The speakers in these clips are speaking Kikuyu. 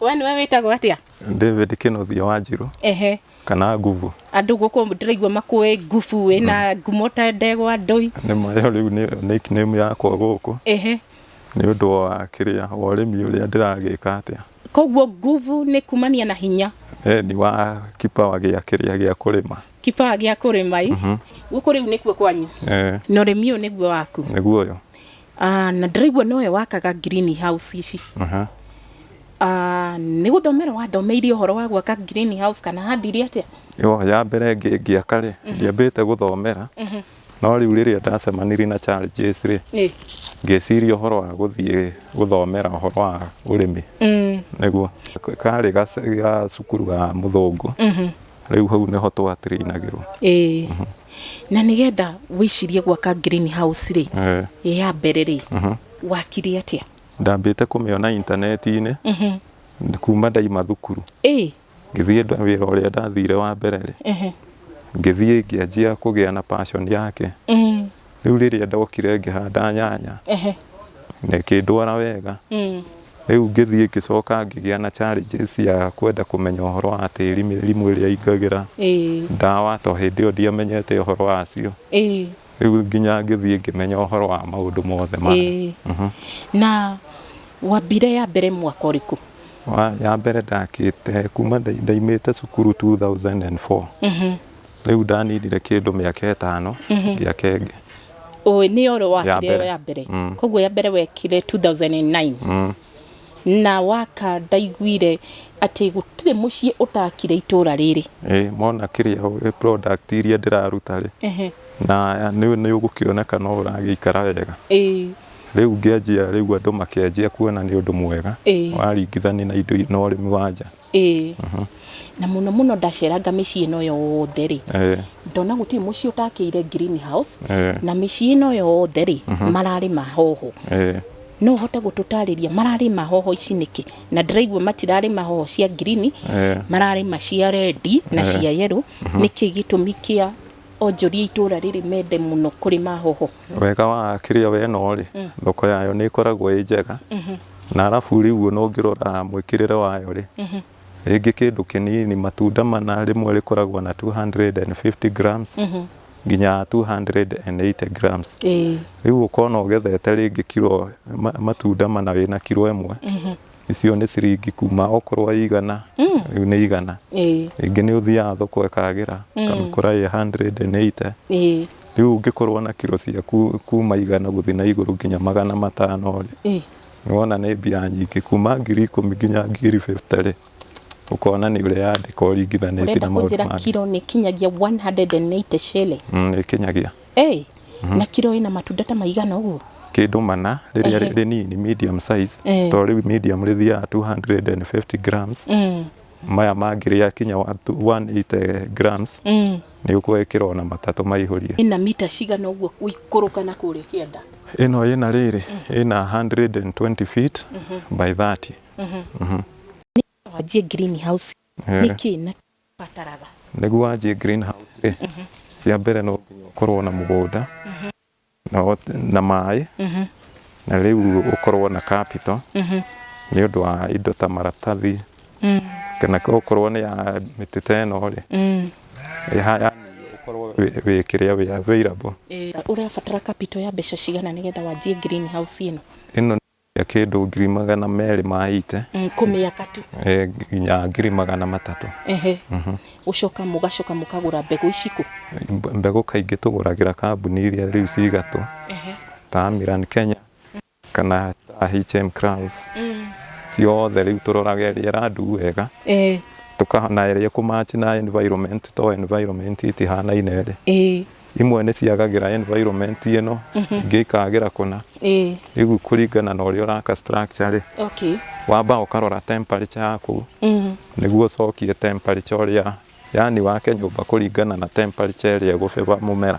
We nĩwe wĩtagwo atĩa? David Kĩnũthia Wanjirũ Ehe. kana Nguvu. Andũ gũkũ ndĩraigua makũĩ ngubu wĩna ngumo ta ndegwa ndũi. Nĩ ma ĩyo rĩu nĩ nickname yakwa gũkũ Ehe. nĩ ũndũ wa kĩrĩa wa ũrĩmi ũrĩa ndĩragĩka atĩa. Koguo nguvu nĩ kumania na hinya. Eh, ni wa kipawa gĩa kĩrĩa gĩa kũrĩma. Kipawa gĩa kũrĩma ĩ. Gũkũ rĩu nĩkuo kwanyu. Eh, Na ũrĩmi ũyũ nĩguo waku. nĩguo ũyũ. Ah, na ndĩraigua nowe wakaga green house ici Aha. Ah, nĩ gũthomera wathomeire ũhoro wa gwaka green house kana handire atĩa Yo, ya mbere ngĩ- ngĩaka rĩ ndiambĩte gũthomera no rĩu rĩrĩa ndacemanirie na challenges rĩ Ĩ. ngĩciria ũhoro wa gũthiĩ gũthomera ũhoro wa ũrĩmi Mm, nĩguo karĩ gace- ga cukuru ga mũthũngũ Rĩu hau nĩho twa train agĩrwo. Ĩĩ. Mhm. Na nĩgetha wĩcirie gwaka green house rĩ, eh. ya mbere rĩ, mhm. wakire atĩa? Ndambĩte kũmĩona intaneti-inĩ mhm. kuma ndaima thukuru. Ĩĩ. Ngĩthiĩ wĩra ũrĩa ndathire wa mbere rĩ, ngĩthiĩ ngĩanjia kũgĩa na passion yake. Rĩu rĩrĩa ndokire ngĩhanda nyanya Ehe. na ĩkĩndwara wega Mm. rĩu ngĩthiĩ ngĩcoka ngĩgĩa na challenges ya kwenda kũmenya ũhoro wa tĩri mĩrimũ ĩrĩa ingagĩra Ĩĩ. ndawa to hĩndĩ ĩyo ndiamenyete ũhoro wacio Ĩĩ. rĩu nginya ngĩthiĩ ngĩmenya ũhoro wa maũndũ mothe maya Ĩĩ. Mhm. Na wambire ya mbere mwaka ũrĩkũ? Wa- ya mbere ndakĩte kuma nda- ndaimĩte cukuru 2004 Mhm. Rĩu ndaninire kĩndũ mĩaka ĩtano ngĩaka ĩngĩ. Ũĩ nĩ oro wakire ĩyo ya mbere. Mm. Koguo ya mbere wekire 2009. Mm. Na waka ndaiguire atĩ gũtirĩ mũciĩ ũtakire itũra rĩrĩ. Ĩĩ mona kĩrĩa product iria ndĩraruta rĩ. Ehe. Na nĩ ũgũkĩona kana ũragĩikara wega. Ĩĩ. Rĩu ngĩanjia rĩu andũ makĩanjia kuona nĩ ũndũ mwega. Ĩĩ. Waringithania na indo na ũrĩmi wa nja. Ĩĩ. Na mũno mũno ndaceranga mĩciĩ ĩno yothe rĩ, ndona gũtirĩ mũciĩ ũtakĩire green house, na mĩciĩ ĩno yothe rĩ, mararĩma hoho. No ũhote gũtũtarĩria mararĩma hoho ici nĩkĩ? Na ndĩraigua matirarĩma hoho cia green, mararĩma cia red na cia yellow, nĩkĩ gĩtũmi kĩa? Onjoria itũũra rĩrĩ mende mũno kũrĩma hoho. Wega wa kĩrĩa we ĩno rĩ, mm. thoko yayo nĩ ĩkoragwo ĩ njega mm-hmm. na arabu rĩu ona ũngĩrora mwĩkĩrĩre wayo rĩ mm-hmm. rĩngĩ kĩndũ kĩnini matunda mana rĩmwe rĩkoragwo na 250 grams mm-hmm. nginya 280 grams rĩu ũkona ũgethete rĩngĩ kiro matunda mana wĩna kiro ĩmwe icio nĩ ciringi kuma okorwo ĩ igana rĩu nĩ igana ĩĩ rĩngĩ nĩ ũthiaga thoko ĩkagĩra ũkamĩkora ĩ 180 ĩĩ rĩu ũngĩkorwo na kiro ciaku kuma igana gũthiĩ na igũrũ nginya magana matano rĩ ĩĩ nĩ wona nĩ mbia nyingĩ kuma ngiri ikũmi nginya ngiri 50 rĩ ũkona nĩ ũreyandĩka ũringithanĩtie ũrenda na maũndũ kũnjĩra mangĩ kiro nĩ kinyagia 180 shillings Mm, nĩ ĩkinyagia Ĩĩ, na kiro ĩna matunda ta maigana ũguo? kĩndũ mana rĩrĩa Ehe. rĩnini medium size Eh. to rĩu medium rĩthiaga 250 grams Mm, maya mangĩ rĩa kinya wa- tu- 180 grams mm. nĩ ũkuoya kĩro na matatũ maihũrie ĩna mita cigana ũguo gũikũrũka na kũrĩa kĩanda ĩno ĩna rĩrĩ ĩna 120 feet by 30 wanjie green house Eh. nĩkĩ na bataraga. Nĩguo wanjie green house rĩ, cia mbere no nginya ũkorwo na mũgũnda na maĩ na rĩu ũkorwo na capital nĩ ũndũ wa indo ta maratathi kana okorwo nĩ ya mĩtĩ ta ĩno rĩ, ũkorwo wĩ kĩrĩa, wĩ available. Ũrabatara capital ya mbeca cigana nĩgetha wanjie green house ĩno? ya kĩndũ ngiri magana merĩ ma ite Mm, kũmĩaka tu eh, nginya ngiri magana matatũ ehe gũcoka mũgacoka mũkagũra mbegũ ici kũ Mbe- mbegũ kaingĩ tũgũragĩra kambuni iria rĩu cigatũ Ehe. ta Amiran Kenya kana ta HM Crowns Mm. ciothe rĩu tũroraga ĩrĩa ĩrandu wega Eh, tũkahana ĩrĩa kũmachi na environment to environment itihanaine rĩ eh, imwe nĩ ciagagĩra environment ĩno mhm. ingĩ ikagĩra kũna rĩu kũringana na ũrĩa ũraka structure rĩ wamba ũkarora temperature yaku mhm. nĩguo ũcokie temperature ũrĩa yani wake nyũmba kũringana na temperature ĩrĩa ĩgũbeba mũmera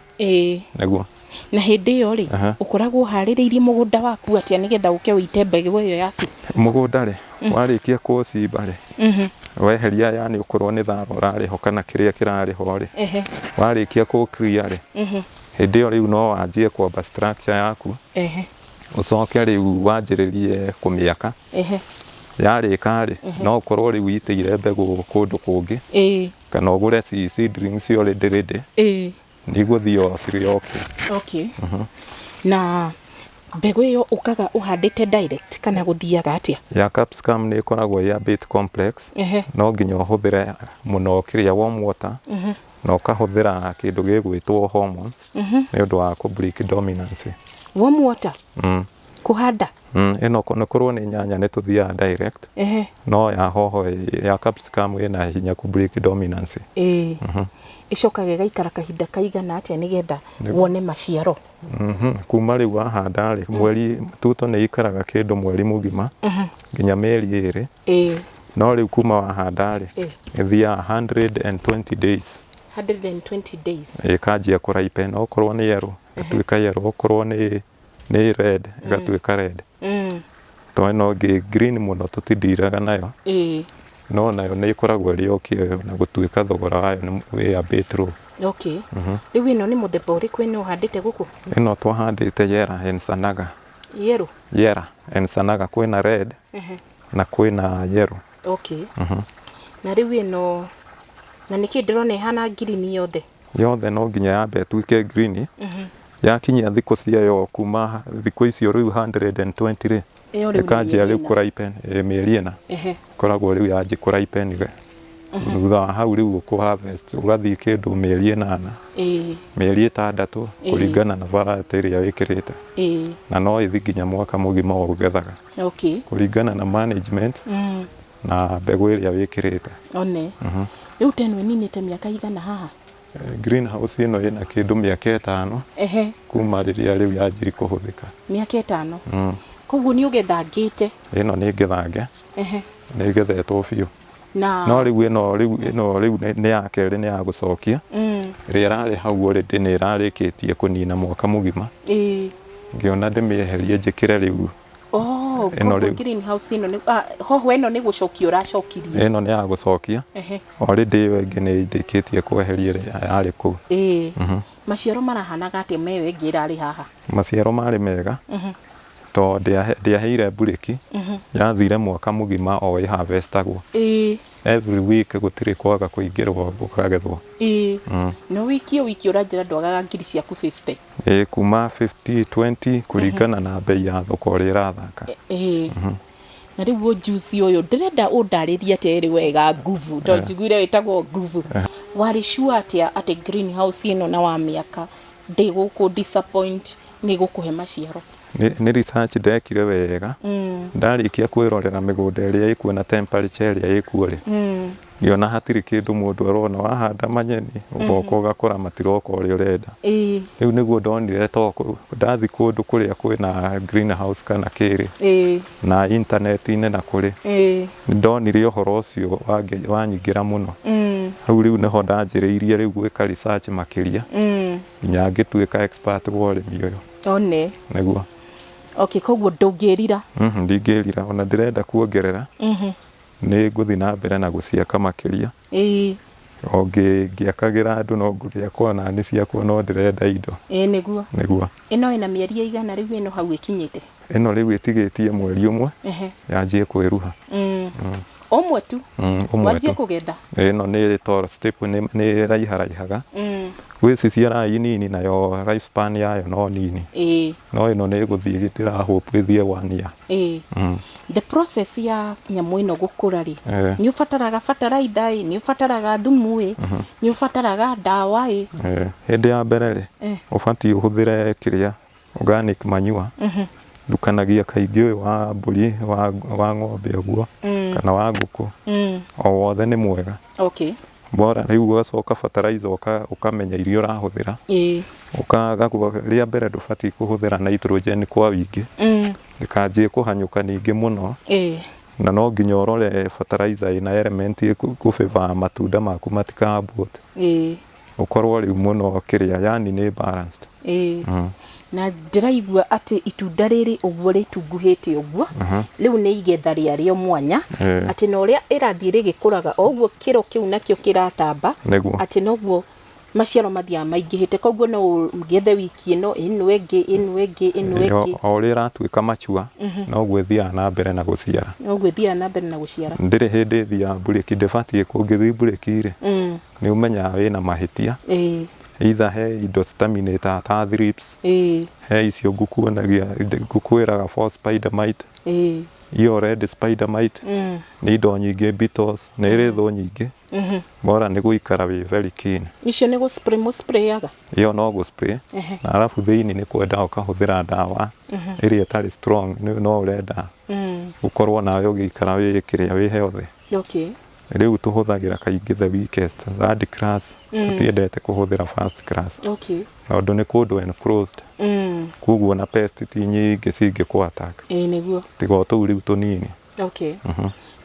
nĩguo na hĩndĩ ĩyo rĩ ũkoragwo harĩrĩirie mũgũnda waku atĩa nĩgetha ũke ũite mbegũ ĩyo yaku mũgũnda rĩ mm. warĩkia kũcimba rĩ mm-hmm. weheria yani ũkorwo nĩ thara ũrarĩ ho kana kĩrĩa kĩrarĩ ho rĩ warĩkia kũ clear rĩ mm-hmm. hĩndĩ ĩyo rĩu no wanjie kwamba structure yaku ũcoke rĩu wanjĩrĩrie kũmĩaka yarĩka rĩ no ũkorwo rĩu itĩire mbegũ kũndũ kũngĩ kana ũgũre seedlings already ready Ndigũthiĩ o cirĩ o kĩ. Okay. Na mbegũ ĩyo ũkaga ũhandĩte direct kana gũthiaga atĩa? Ya capsicum nĩ ĩkoragwo ĩ a bit complex. Ehe. No nginya ũhũthĩre mũno kĩrĩa warm water na ũkahũthĩra kĩndũ gĩgwĩtwo hormones nĩ ũndũ wa kũ break dominance. Warm water? Mm. Kũhanda? Mm, ĩno nĩ korwo nĩ nyanya nĩ tũthiaga direct. Ehe. No ya hoho ya capsicum ĩna hinya ku break dominance. Ĩĩ. Mm -hmm. Ĩcokaga ĩgaikara kahinda kaigana atĩa nĩgetha wone maciaro? Mm -hmm. Kuma rĩu wahanda rĩ, mweri tuto nĩ ikaraga kĩndũ mweri mũgima mm -hmm. nginya mĩeri ĩrĩ. Ĩĩ. No rĩu kuma wahanda rĩ, ĩthiaga 120 days. 120 days. Ĩkanjia kũraipa ĩno okorwo nĩ yerũ, ĩtuĩka yerũ, okorwo nĩ nĩ red ĩgatuĩka red Mm. tondũ ĩno ĩngĩ green mũno tũtindiraga nayo Ĩĩ. no nayo nĩ ĩkoragwo ĩrĩ o kĩoyo na gũtuĩka thogora wayo nĩ wĩambĩte rũ Okay. Rĩu ĩno nĩ mũthemba ũrĩkũ ĩno ũhandĩte gũkũ? ĩno twahandĩte yera ensanaga Yellow. yera ensanaga kwĩna red Ehe. na kwĩna yero Okay. Na rĩu ĩno na nĩkĩ ndĩrona ĩhana ngirini yothe. yothe no nginya yambe ĩtuĩke green yakinyia thikũ ciayo kuma thikũ icio rĩu 120 rĩ Ĩyo rĩu nĩ ĩkanjia mĩeri rĩu ĩna. kũ ripen eh, mĩeri ĩna Ehe. koragwo rĩu yanjia kũ ripen we thutha wa hau rĩu ũkũ harvest ũgathiĩ kĩndũ mĩeri ĩnana Ĩĩ, mĩeri ĩtandatũ Ĩĩ. kũringana na varĩtĩ ĩrĩa wĩkĩrĩte ĩĩ. na no ĩthi nginya mwaka mũgima ũgethaga Okay. kũringana na management Mm. na mbegũ ĩrĩa wĩkĩrĩte. One. Rĩu ta ĩno ĩninĩte mĩaka ĩigana haha? Green house ĩno ĩna kĩndũ mĩaka ĩtano kuma rĩrĩa rĩu yanjiri kũhũthĩka. Mĩaka ĩtano? Koguo nĩ ũgethangĩte? Ĩno nĩ ngethange. Nĩ ĩgethetwo biũ. No rĩu ĩno rĩu nĩ ya kerĩ nĩ ya gũcokia. Ĩrĩa ĩrarĩ hau already nĩ ĩrarĩkĩtie kũnina mwaka mũgima. Ngĩona ndĩmĩeherie njĩkĩre rĩu Oh, Ĩno koguo rĩu. green house ĩno nĩ ah, hoho ĩno nĩ gũcokia ũracokirie ĩno nĩ ya gũcokia Ehe. already ĩyo ĩngĩ nĩ ndĩkĩtie kweheria ĩrĩa yarĩ kũu ĩĩ maciaro marahanaga atĩa meyo ĩngĩ ĩrarĩ haha maciaro marĩ mega tondũ ndĩahe- ndĩaheire mburĩki yathire mwaka mũgima o ĩhavestagwo ĩĩ Every week gũtirĩ kwaga kũingĩrwo gũkagethwo. Ĩĩ. Mm. No wiki o wiki ũranjĩra ndwagaga ngiri ciaku 50. Ĩĩ kuma 50, 20 kũringana na mbei ya thoko ũrĩa ĩrathaka. Ĩĩ. Mhm. Na rĩu ũyũ Juice ũyũ ndĩrenda ũndarĩrie atĩ ĩrĩ wega nguvu tondũ njiguire wĩtagwo nguvu. Warĩ sure atĩa atĩ green house ĩno na wamĩaka ndĩgũkũ disappoint nĩ ĩgũkũhe maciaro? Nĩ research ndekire wega, ndarĩkia kwĩrorera mĩgũnda ĩrĩa ĩkuo na temperature ĩrĩa ĩkuo rĩ, ngĩona hatirĩ kĩndũ mũndũ arona. Wahanda manyeni, ũgoka ũgakora matiroka ũrĩa ũrenda. Rĩu nĩguo ndonire to ndathi kũndũ kũrĩa kwĩna green house kana kĩ rĩ, na intaneti-inĩ na kũrĩ, nĩ ndonire ũhoro ũcio wanyingĩra mũno. Hau rĩu nĩho ndanjĩrĩirie rĩu gwĩka research makĩria, nginya ngĩtuĩka expert wa ũrĩmi ũyũ. one nĩguo okay koguo ndũngĩrira Mhm, ndingĩrira ona ndĩrenda kuongerera nĩ ngũthiĩ na mbere na gũciaka makĩria ĩĩ o ngĩ- ngĩakagĩra andũ no ngũgĩaka ona nĩ ciakwa no ndĩrenda indo ĩĩ nĩguo nĩguo ĩno ĩna mĩeri ĩigana rĩu ĩno hau ĩkinyĩte ĩno rĩu ĩtigĩtie mweri ũmwe ehe yanjie kwĩruha Mm. ũmwe tu Mm, ũmwe wanjie tu. kũgetha ĩno nĩ toro step nĩ nĩ raiharaihaga Mm, gwĩ ici ciaraga nini nayo life span yayo no nini ĩĩ no ĩno nĩ gũthiĩ gĩtĩra hope ĩthiĩ one year ĩĩ Mm. the process ya nyamũ ĩno gũkũra rĩ Eh. nĩ ũbataraga bataraitha ĩ nĩ ũbataraga thumu ĩ nĩ ũbataraga ndawa ĩ Eh, hĩndĩ ya mbere rĩ Eh. ũbatiĩ ũhũthĩre kĩrĩa organic manure ndukanagia kaingĩ ũyũ wa mbũri wa, wa ng'ombe ũguo kana wa ngũkũ Mm. o wothe nĩ mwega Okay. bora rĩu ũgacoka fertilizer ũka- ũkamenya iria ũrahũthĩra Ĩĩ. ũkagagwo rĩa mbere ndũbatiĩ kũhũthĩra nitrogen kwa wingĩ Mm. ndĩkanjie kũhanyũka ningĩ mũno Ĩĩ. na no nginya ũrore fertilizer ĩna element ĩkũbĩba matunda maku matikambũte Ĩĩ. ũkorwo rĩu mwena ũyũ kĩrĩa yani nĩ balanced ĩĩ mm. na ndĩraigua atĩ itunda rĩrĩ ũguo rĩtunguhĩte ũguo rĩu nĩ igetha rĩarĩo mwanya Ĩĩ. atĩ na ũrĩa ĩrathiĩ rĩgĩkũraga o ũguo kĩro kĩu nakĩo kĩratamba Nĩguo. atĩ noguo maciaro mathiaga maingĩhĩte koguo no ũgethe wiki ĩno ĩno ĩngĩ ĩno ĩngĩ ĩno Ĩĩ, ĩngĩ o o ũrĩa ĩratuĩka macua noguo ĩthiaga na mbere na gũciara ũguo ĩthiaga na mbere na gũciara ndĩrĩ hĩndĩ ĩthiaga mburĩki ndĩbatiĩ kũngĩthiĩ mburĩki-rĩ nĩ ũmenyaga wĩna mahĩtia ĩĩ either he indo citaminĩtaga ta thrips ĩĩ he icio ngũkuonagia ngũkwĩraga for spider mite ĩĩ iyo red spider mite Mm. nĩ indo nyingĩ beetles nĩ ĩrĩ thũ nyingĩ bora nĩ gũikara wĩ very keen icio nĩ gũspray mũsprayaga iyo no gũspray Ehe. na arabu thĩinĩ nĩ kwenda ũkahũthĩra ndawa ĩrĩa ĩtarĩ strong nĩ- no ũrenda Mm. gũkorwo nawe ũgĩikara wĩ kĩrĩa wĩ healthy okay Rĩu tũhũthagĩra kaingĩ the weakest, third class, tũtiendete kũhũthĩra first class. Okay. Tondũ nĩ kũndũ enclosed, Mm. koguo na pest ti nyingĩ cingĩkũ attack. Ĩĩ nĩguo. Tiga o tũu rĩu tũnini. Okay.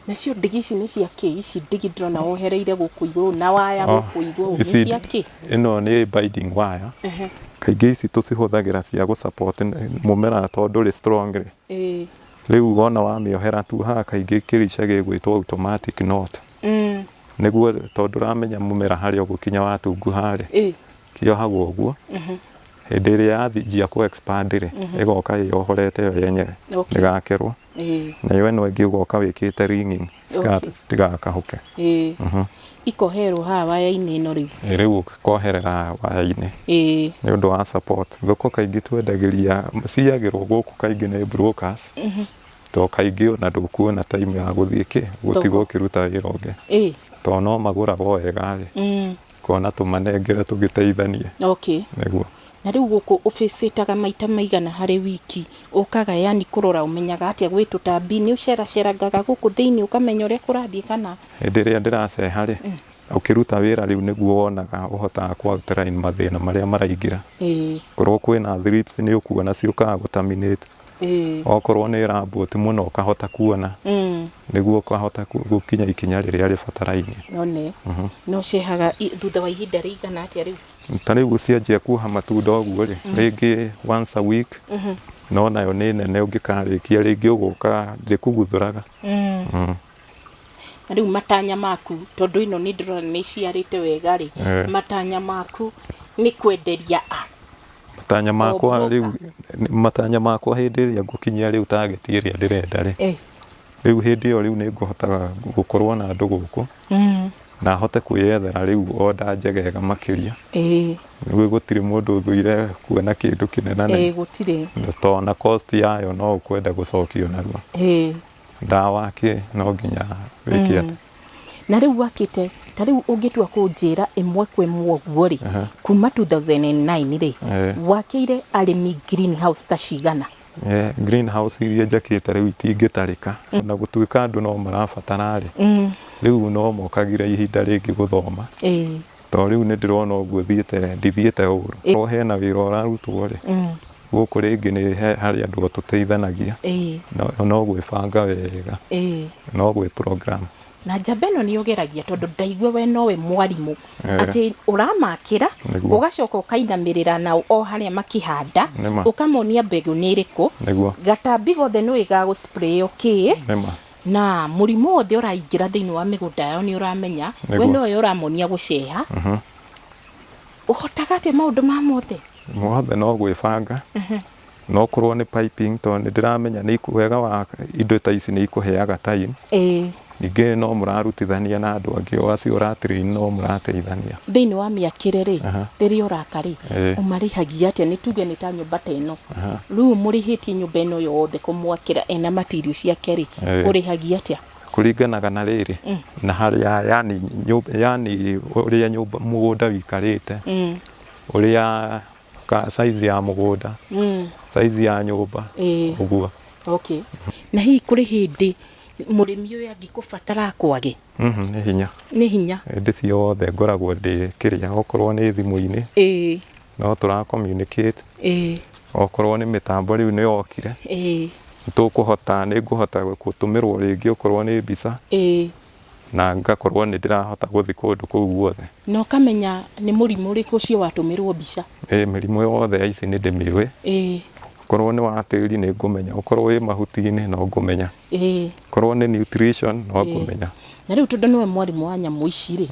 Nacio ndigi ici nĩ cia kĩ? Ici ndigi ndĩrona wohereire gũkũ igũrũ na waya Oh, gũkũ igũrũ nĩ ici- cia kĩ? Ĩno nĩ binding wire. Ehe. Kaingĩ ici tũcihũthagĩra cia gũ support mũmera tondũ ndũrĩ strong rĩ, Ĩĩ. Rĩu wona wamĩohera tuohaga kaingĩ kĩrĩca gĩgwĩtwo automatic knot. Mm. Nĩguo tondũ ndũramenya mũmera harĩa ũgũkinya watunguha rĩ, Ĩ. kĩohagwo ũguo. Hĩndĩ ĩrĩa yanjia kũ expand rĩ, ĩgoka ĩyohorete yo yenyewe Okay. ĩgakerwo. Ĩ. Nayo ĩno ĩngĩ ũgoka wĩkĩte ringing Skirt, Okay. tiga kahuke Ĩĩ. Mhm. ikoherwo haha waya-inĩ ĩno rĩu Ĩ, rĩu koherera waya-inĩ Ĩĩ. nĩ ũndũ wa support thoko kaingĩ twendagĩria ciyagĩrwo gũkũ kaingĩ nĩ brokers to kaingĩ ona ndũkuona time ya gũthiĩ kĩ gũtiga Thoko. ũkĩruta wĩra ũngĩ Ĩĩ. to no magũraga o wega rĩ Mm. Kona tũmanengere tũgĩteithanie. Okay. Nĩguo. Na rĩu gũkũ ũbĩcĩtaga maita maigana harĩ wiki? Ũkaga yani kũrora ũmenyaga atĩa gwĩ tũtambi? Nĩ ũceracerangaga gũkũ thĩinĩ ũkamenya ũrĩa kũrathiĩ kana? Hĩndĩ ĩrĩa ndĩraceha rĩ, ũkĩruta wĩra rĩu nĩguo wonaga ũhotaga kũ outline mathĩna marĩa maraingĩra. Ĩĩ. Korwo kwĩna thrips nĩ ũkuona ciũkaga gũ terminate. okorwo nĩ rambu ti mũno ũkahota kuona mm. nĩguo ũkahota gũkinya ikinya rĩrĩa rĩbatarainie none mhm. no cihaga thutha wa ihinda rĩigana atĩa rĩu ta rĩu cianjia kuoha matunda ũguo rĩ mhm. rĩngĩ once a week mhm. no nayo nĩ nene ũngĩkarĩkia rĩngĩ ũgũka ndĩkuguthũraga mm. mm. Rĩu matanya maku, tondũ ĩno nĩ ndĩrona nĩ ĩciarĩte wega rĩ, Eh. matanya maku nĩ kwenderia a? matanya makwa Ombroka. rĩu matanya makwa hĩndĩ ĩrĩa ngũkinyia rĩu target ĩrĩa ndĩrenda rĩ Eh. rĩu hĩndĩ ĩyo rĩu nĩ ngũhotaga gũkorwo na andũ gũkũ Mm. na hote kwĩyethera rĩu oda njegega makĩria Eh. nĩguo gũtirĩ mũndũ ũthũire kuona kĩndũ kĩnena na Eh, gũtirĩ. tondũ na cost yayo no ũkwenda gũcokio narua Eh. Ndawa kĩ no nginya wĩke atĩ. Na rĩu wakĩte, ta rĩu ũngĩtua kũnjĩra ĩmwe kwa ĩmwe ũguo rĩ, Aha. kuma 2009 rĩ, Eh. wakĩire arĩmi green house ta cigana? Eh, green house iria njakĩte rĩu itingĩtarĩka na gũtuĩka andũ no marabatara rĩ rĩu no mokagire ihinda rĩngĩ gũthoma Ĩĩ. to rĩu nĩ ndĩrona ũguo thiĩte ndithiĩte ũũru Ĩ. o hena wĩra ũrarutwo rĩ Mm. gũkũ rĩngĩ nĩ he- harĩ andũ tũteithanagia Ĩĩ. no no gwĩbanga wega Ĩĩ. no gwĩ program na njamba ĩno nĩ ũgeragia tondũ ndaigua we nowe mwarimũ Eh. atĩ ũramakĩra Nĩguo. ũgacoka ũkainamĩrĩra na o harĩa makĩhanda Nĩma. ũkamonia mbegũ nĩ ĩrĩkũ Nĩguo. gatambi gothe nĩ ũĩ gagũsprayo kĩ nĩma na mũrimũ wothe ũraingĩra thĩinĩ wa mĩgũnda yao nĩ ũramenya we Nĩguo. nowe ũramonia gũceha ũhotaga atĩa maũndũ ma mothe mothe no gwĩbanga no korwo nĩ piping tondũ nĩ ndĩramenya nĩ iku- wega wa indo ta ici nĩ ikũheaga time ĩĩ ningĩ no mũrarutithania na andũ angĩ o acio ũratirĩini no mũrateithania thĩinĩ wa mĩakĩre rĩ Aha. rĩrĩa ũraka rĩ Ĩĩ. ũmarĩhagia atĩa nĩ tuge nĩ ta nyũmba ta ĩno Rĩu mũrĩhĩtie nyũmba ĩno yothe kũmwakĩra ena material ciake rĩ, Eh. ũrĩhagia atĩa? kũringanaga na rĩrĩ na harĩa yani, nyũmba, yani ũrĩa nyũmba mũgũnda wĩikarĩte Mm. ũrĩa ka, size ya mũgũnda Mm. size ya nyũmba Ĩĩ. ũguo Okay. Na hihi kũrĩ hĩndĩ mũrĩmi ũyũ angĩkũbatara kwage Mhm, nĩ hinya nĩ hinya. hĩndĩ ciothe ngoragwo ndĩ kĩrĩa okorwo nĩ thimũ-inĩ Ĩĩ. no tũra communicate ĩĩ okorwo nĩ mĩtambo rĩu nĩ yokire ĩĩ tũkũhota nĩ ngũhota gũtũmĩrwo rĩngĩ okorwo nĩ mbica ĩĩ na ngakorwo nĩ ndĩrahota gũthiĩ kũndũ kũu guothe na ũkamenya nĩ mũrimũ ũrĩkũ ũcio watũmĩrwo mbica ĩĩ mĩrimũ yothe ya ici nĩ ndĩmĩũĩ ĩĩ okorwo nĩ wa tĩri nĩ ngũmenya okorwo wĩ mahuti-inĩ no ngũmenya ĩĩ okorwo nĩ nutrition no ngũmenya na rĩu tondũ nĩwe mwarimũ wa nyamũ ici rĩ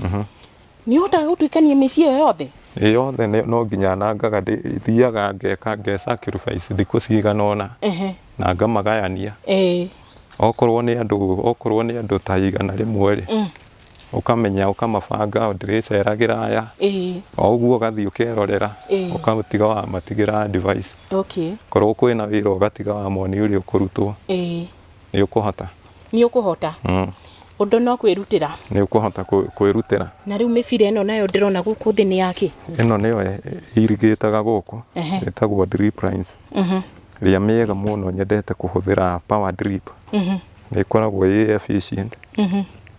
Nĩ ũhotaga gũtuĩkania mĩciĩ ĩyo yothe? Ĩ yothe nĩ- no nginya nangaga ndĩ- thiaga ngeka nge sacrifice thikũ cigana ũna Ehe. na ngamagayania Ĩĩ. okorwo nĩ andũ okorwo nĩ andũ ta igana rĩmwe rĩ Mm. ũkamenya ũkamabanga ndĩrĩceragĩra aya Ĩĩ. o ũguo ũgathiĩ ũkerorera Ĩĩ. ũkamũtiga wamatigĩra advice Okay. korwo kwĩna wĩra ũgatiga wamoni ũrĩa ũkũrutwo Ĩĩ. Nĩ ũkũhota. Nĩ ũkũhota. Mm. Ũndũ no kwĩrutĩra. Nĩ ũkũhota kwĩrutĩra. Na rĩu mĩbira ĩno nayo ndĩrona gũkũ thĩ nĩ yakĩ? Ĩno nĩyo irigĩtaga gũkũ ĩtagwo drip lines. Mhm. Ĩrĩa mĩega mũno nyendete kũhũthĩra power drip. Mhm. Nĩ ĩkoragwo ĩ efficient. Mhm.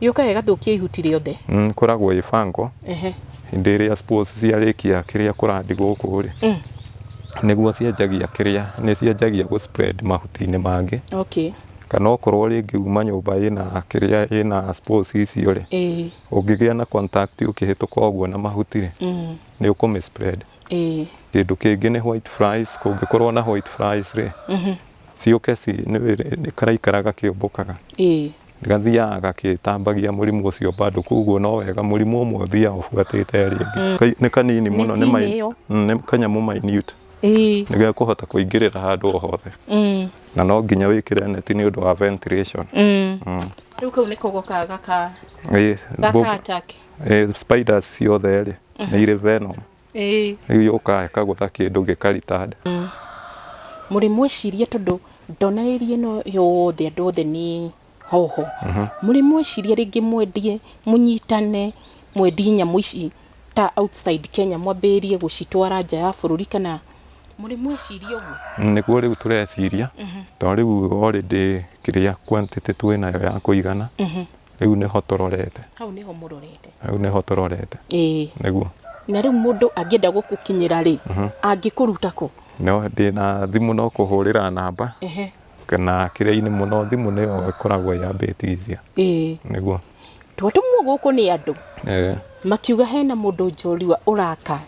Gĩũkaga gĩgathũkia ihuti rĩothe. Mm, koragwo ĩ bango Ehe. hĩndĩ ĩrĩa spores ciarĩkia kĩrĩa kũrandi gũkũ rĩ Mm. nĩguo cianjagia kĩrĩa nĩ cianjagia gũ spread mahuti-inĩ mangĩ Okay. kana okorwo rĩngĩ uma nyũmba ĩna kĩrĩa ĩna spores icio rĩ Ĩĩ. ũngĩgĩa na contact ũkĩhĩtũka ũguo na mahuti rĩ Mm. nĩ ũkũmĩ spread Ĩĩ. kĩndũ kĩngĩ nĩ white flies kũngĩkorwo na white flies rĩ Siũkesi nĩ wĩrĩ- nĩ karaikara gakĩũmbũkaga. Ĩĩ. Gathiaga gakĩtambagia mũrimũ ũcio bado kwoguo no wega mũrimũ ũmwe ũthiaga ũbuatĩte ĩrĩa ĩngĩ. Kai- Nĩ kanini mũno nĩ Neti-inĩ mai- ĩyo. Mm, nĩ kanyamũ minute. Ĩĩ. Nĩ gekũhota kũingĩrĩra handũ o hothe. Mm. Na no nginya wĩkĩre neti nĩ ũndũ wa ventilation. Mm. Mm. Rĩu kau nĩko gokaga gaka Ĩĩ, gaka mbũ- attack. ĩĩ, spiders ciothe rĩ, nĩ irĩ venom. Ĩĩ. Rĩu yũkaga ĩkagũtha kĩndũ gĩka return. Mũrĩ mwĩciria tondũ ndona area ĩno yothe andũ othe nĩ hoho. Mũrĩ mwĩciria rĩngĩ mwendie mũnyitane mwendie nyamũ ici ta outside Kenya mwambĩrĩrie gũcitwara nja ya bũrũri kana mũrĩ mwĩciria ũguo? Nĩguo rĩu tũreciria tondũ rĩu already kĩrĩa quantity twĩnayo ya kũigana. Rĩu nĩho tũrorete. Hau nĩho mũrorete. Hau nĩho tũrorete. Ĩĩ. Nĩguo. Na rĩu mũndũ angĩenda gũkũkinyĩra rĩ, mhm. angĩkũruta kũ? No ndĩ na thimũ no kũhũrĩra namba. Ehe. Kana kĩrĩa-inĩ mũno thimũ nĩyo ĩkoragwo yambĩtithia. Ĩĩ. Nĩguo. Twatũmwo gũkũ nĩ andũ. Eeh. makiuga hena mũndũ njorua ũraka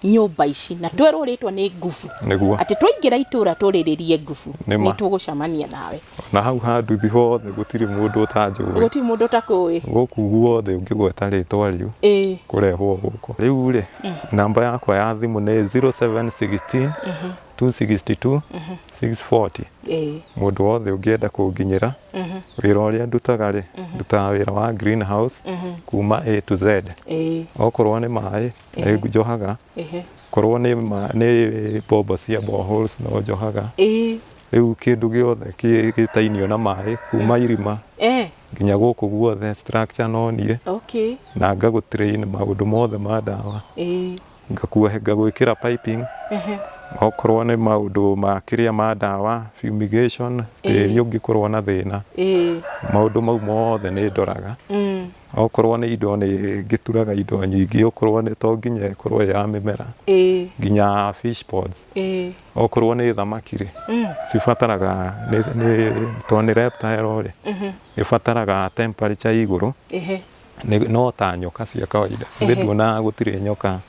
nyũmba ici na twerwo rĩtwa nĩ ngubu Nĩguo. atĩ twaingĩra itũra tũrĩrĩrie ngubu Nĩ ma. nĩ tũgũcamania nawe na hau ha nduthi hothe gũtirĩ mũndũ ũtanjũĩ gũtirĩ mũndũ ũtakũĩ gũkũ guothe ũngĩgweta rĩtwa rĩu ĩĩ kũrehwo gũkũ rĩu rĩ namba yakwa ya thimũ nĩ 0716 262 640 ĩĩ mũndũ wothe ũngĩenda kũnginyĩra Mhm. wĩra ũrĩa ndutaga rĩ ndutaga wĩra wa green house kuma a to z Ĩĩ. okorwo nĩ maĩ nĩ njohaga Ehe. korwo nĩ ma- nĩ bombo cia boreholes no njohaga Ĩĩ. rĩu kĩndũ gĩothe kĩ- gĩtainio na maĩ kuma irima Eh. nginya gũkũ guothe structure no niĩ Okay. na ngagũtrain maũndũ mothe ma ndawa Ĩĩ. ngakuohe ngagwĩkĩra piping okorwo nĩ maũndũ ma kĩrĩa ma ndawa fumigation tĩri ũngĩkorwo na thĩna ĩĩ maũndũ mau mothe nĩ ndoraga mm, okorwo nĩ indo nĩ ngĩturaga indo nyingĩ okorwo nĩ to nginya ĩkorwo ĩ ya mĩmera ĩĩ nginya fish ponds ĩĩ okorwo nĩ thamaki rĩ mm, cibataraga nĩ- nĩ- tondũ nĩ reptile rĩ ĩbataraga temperature ya igũrũ ĩhĩ nĩ- no ta nyoka cia kawaida Ehe. ĩndĩ nduonaga gũtirĩ nyoka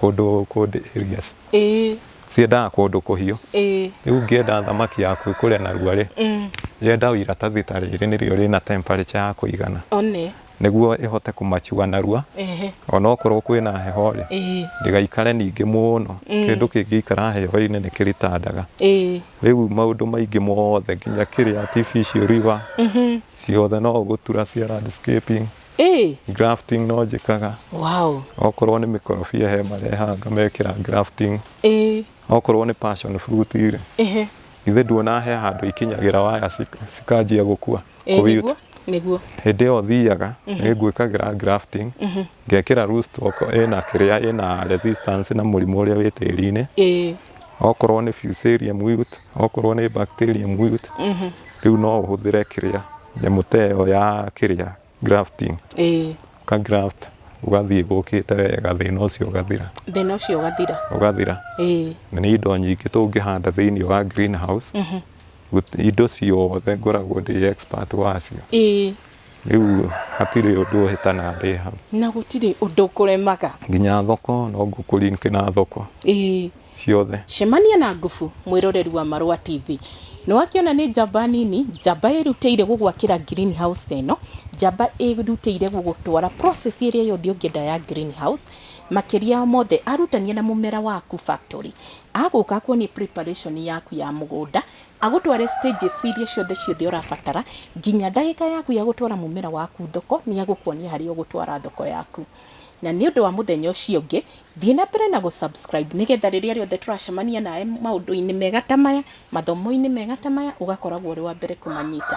kũndũ kũndĩ areas ĩĩ ciendaga kũndũ kũhiũ ĩĩ rĩu ngĩenda thamaki yaku ĩkũre narua rĩ Mm. yenda o iratathi ta rĩrĩ nĩrĩo rĩna temperature ya kũigana one nĩguo ĩhote kũmachua narua ehe onokorwo kwĩna heho rĩ ĩĩ ndĩgaikare ningĩ mũno Mm. kĩndũ kĩngĩikara heho-inĩ nĩ kĩritandaga ĩĩ rĩu maũndũ maingĩ mothe nginya kĩrĩa artificial river Mhm. ciothe no gũtura cia landscaping Ĩĩ, grafting no njĩkaga wow. okorwo nĩ mĩkorobia he marehaga ngamekĩra grafting Ĩĩ, okorwo nĩ passion fruit rĩ ehe. ithe nduona he handũ ikinyagĩra waya cik- cikanjia gũkua Ĩĩ, kũwit. nĩguo, nĩguo. hĩndĩ ĩyo thiaga nĩ ngwĩkagĩra grafting Ngekĩra roots stock ĩna kĩrĩa ĩna resistance na mũrimũ ũrĩa wĩ tĩri-inĩ. Ĩĩ. Okorwo nĩ fusarium wilt, okorwo nĩ bacterium wilt, rĩu no ũhũthĩre kĩrĩa nyamũ ta ĩyo ya kĩrĩa grafting. Ĩĩ. Ũka graft ũgathiĩ ĩgũkĩte wega thĩna ũcio ũgathira. Thĩna ũcio ũgathira. Ũgathira. Ĩĩ. Na nĩ indo nyingĩ tũngĩhanda thĩinĩ wa green house, indo ciothe ngoragwo ndĩ expert wacio. Ĩĩ. Rĩu hatirĩ ũndũ ũhĩta na ndĩ hau. Na gũtirĩ ũndũ ũkũremaga. Nginya thoko no ngũkũ link na thoko. Ĩĩ. Ciothe. Cemania na Ngubu, mwĩroreri wa Marũa TV. Nĩwakĩona nĩ njamba nini, njamba ĩrutĩire gũgwakĩra green house ta ĩno, njamba ĩrutĩire gũgũtwara process ĩrĩa yothe ũngĩenda ya green house, makĩria ya mothe arutania na mũmera waku factory. Agũka akuonie preparation yaku ya mũgũnda, Agũtware stages iria ciothe ciothe ũrabatara nginya ndagĩka yaku ya gũtwara mũmera waku thoko, nĩ agũkuonia harĩa ũgũtwara thoko yaku. Na nĩ ũndũ wa mũthenya ũcio ũngĩ, thiĩ na mbere na gũ subscribe nĩgetha rĩrĩa rĩothe tũracemania nawe maũndũ-inĩ mega ta maya, mathomo-inĩ mega ta maya, ũgakoragwo ũrĩ wa mbere kũmanyita.